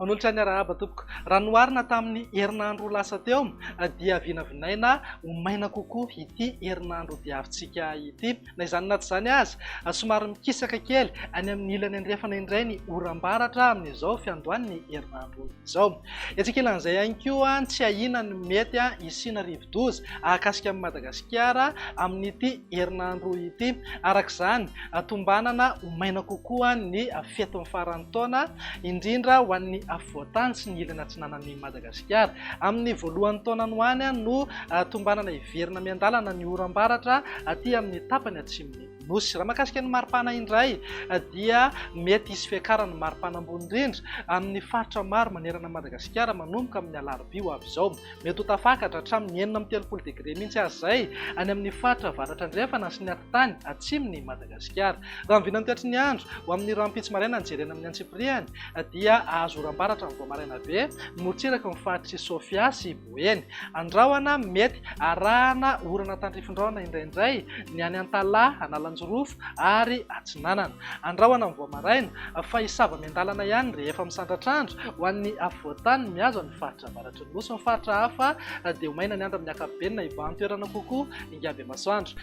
Manolotra ny arahaba tompoko. Raha noharina tamin'ny herinandro lasa teo dia vinavinaina ho maina kokoa ity herinandro diavintsika ity. Na izany na tsy izany aza, somary mikisaka kely any amin'ny ilany andrefana indray ny oram-baratra amin'izao fiandohan'ny herinandro izao. Etsy ankilan'izay ihany koa, tsy ahiana ny mety hisiana rivo-doza hahakasika an'i Madagasikara amin'ity herinandro ity. Araka izany, tombanana ho maina kokoa ny fetin'ny faran'ny taona, indrindra ho an'ny afovoan-tany sy ny ilany atsinanan'i Madagasikara. Madagasikara. Amin'ny voalohan'ny taonany ho any no tombanana hiverina miandalana ny oram-baratra aty amin'ny tapany atsimon'ny Nosy. Raha mahakasika ny maripana indray dia mety hisy fiakaran'ny maripana ambony indrindra amin'ny faritra maro manerana an'i Madagasikara manomboka amin'ny alarobia ho avy izao. Mety ho tafakatra hatramin'ny enina amby telopolo degre mihitsy aza izay any amin'ny faritra avaratra andrefana sy ny atitany atsimon'i Madagasikara. Madagasikara. Raha ny vinan'ny toetry ny andro, ho amin'ny rahampitso maraina ny jerena amin'ny antsipiriany dia azo oram-baratra amin'ny vao maraina be ny morontsiraky ny faritr'i Sofia sy Boeny. Andrahona mety arahana orana tandrifindraona indraindray ny any Antalaha, Analanjirofo ary Atsinanana. Andrahona amin'ny vao maraina fa hisava miandalana ihany rehefa misandratra andro ho an'ny afovoan-tany mihazo an'ny faritra avaratry ny Nosy. Ny faritra hafa dia ho maina ny andro amin'ny ankapobeny na hibahan-toerana kokoa hingam-be masoandro.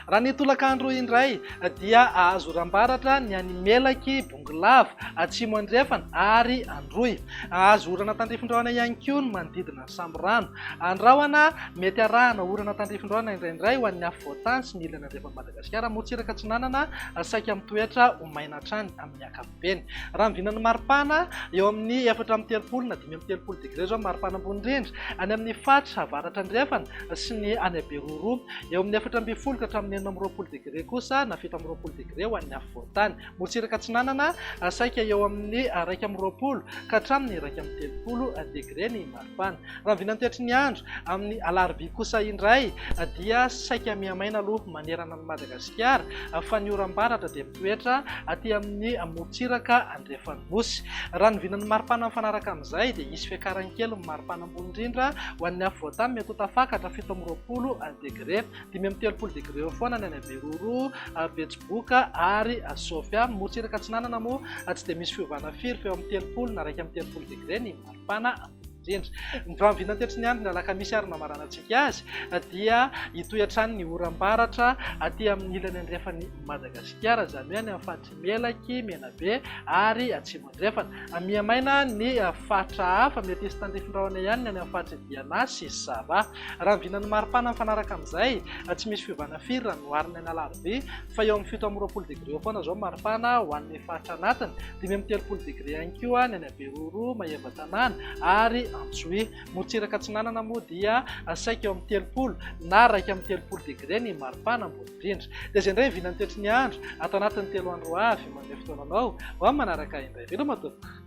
Raha ny tolakandro indray dia azo oram-baratra ny any Melaky, Bongolava, Atsimo Andrefana ary Androy. Azo orana tandrifin-drahona ihany koa ny manodidina ny Samborano. Andrahona mety arahana orana tandrifin-drahona indraindray ho an'ny afovoantany sy ny ilany andrefan'i Madagasikara, morontsiraka atsinanana saika mitoetra ho maina hatrany amin'ny ankapobeny. ankapobeny. Raha ny vinan'ny maripana, eo amin'ny efatra amby telopolo na dimy amby telopolo degre izao ny maripana ambony indrindra, any amin'ny faritra avaratra andrefana sy ny any Beroa, eo amin'ny efatra ambin'ny folo ka hatramin'ny enina amby roapolo degre kosa na fito amby roapolo degre ho an'ny afovoantany. Morontsiraka atsinanana, saika eo amin'ny iraika amby roapolo ka hatramin'ny iraika amby telopolo degre ny maripana. Fana. Raha vinantetry ny andro, amin'ny alarobia kosa indray dia saika mihamaina aloha manerana an'i Madagasikara fa ny oram-baratra dia mitoetra aty amin'ny morontsiraka andrefan'ny nosy. Raha ny vinan'ny maripana mifanaraka amin'izay dia hisy fiakarany kely ny maripana ambony indrindra ho an'ny afovoantany mety ho tafakatra fito amby roapolo degre, dimy amby telopolo degre eo foana ny any Beroro, Betsiboka ary Sofia. Morontsiraka atsinanana moa tsy dia misy fiovana firy fa eo amin'ny telopolo na iraika amby telopolo degre ny maripana. Fanahy, indrindra. Ny vahamiviana tetsy ny andriny alakamisy ary namaranantsika azy dia hitohy hatrany ny oram-baratra aty amin'ny ilany andrefan'i Madagasikara, izany hoe any amin'ny faritr'i Melaky, Menabe ary Atsimo Andrefana. Miha-maina ny faritra hafa, mety hisy tandrifin-drahona ihany ny any amin'ny faritr'i Diana sy Sava. Raha ny vinan'ny maripana mifanaraka amin'izay, tsy misy fiovana firy raha noharina ny alarobia, fa eo amin'ny fito amby roapolo degre eo foana izao ny maripana ho an'ny faritra anatiny, dimy amby telopolo degre ihany koa ny any. Beroroa, Maevatanàna ary Antsohihy. Morontsiraka atsinanana moa dia saika eo amin'ny telopolo na iraika amby telopolo degre ny maripana ambony indrindra. Dia izay indray vinan'ny toetry ny andro ato anatin'ny telo andro ho avy manome fotoana anao ho amin'ny manaraka indray. Veloma tompoko!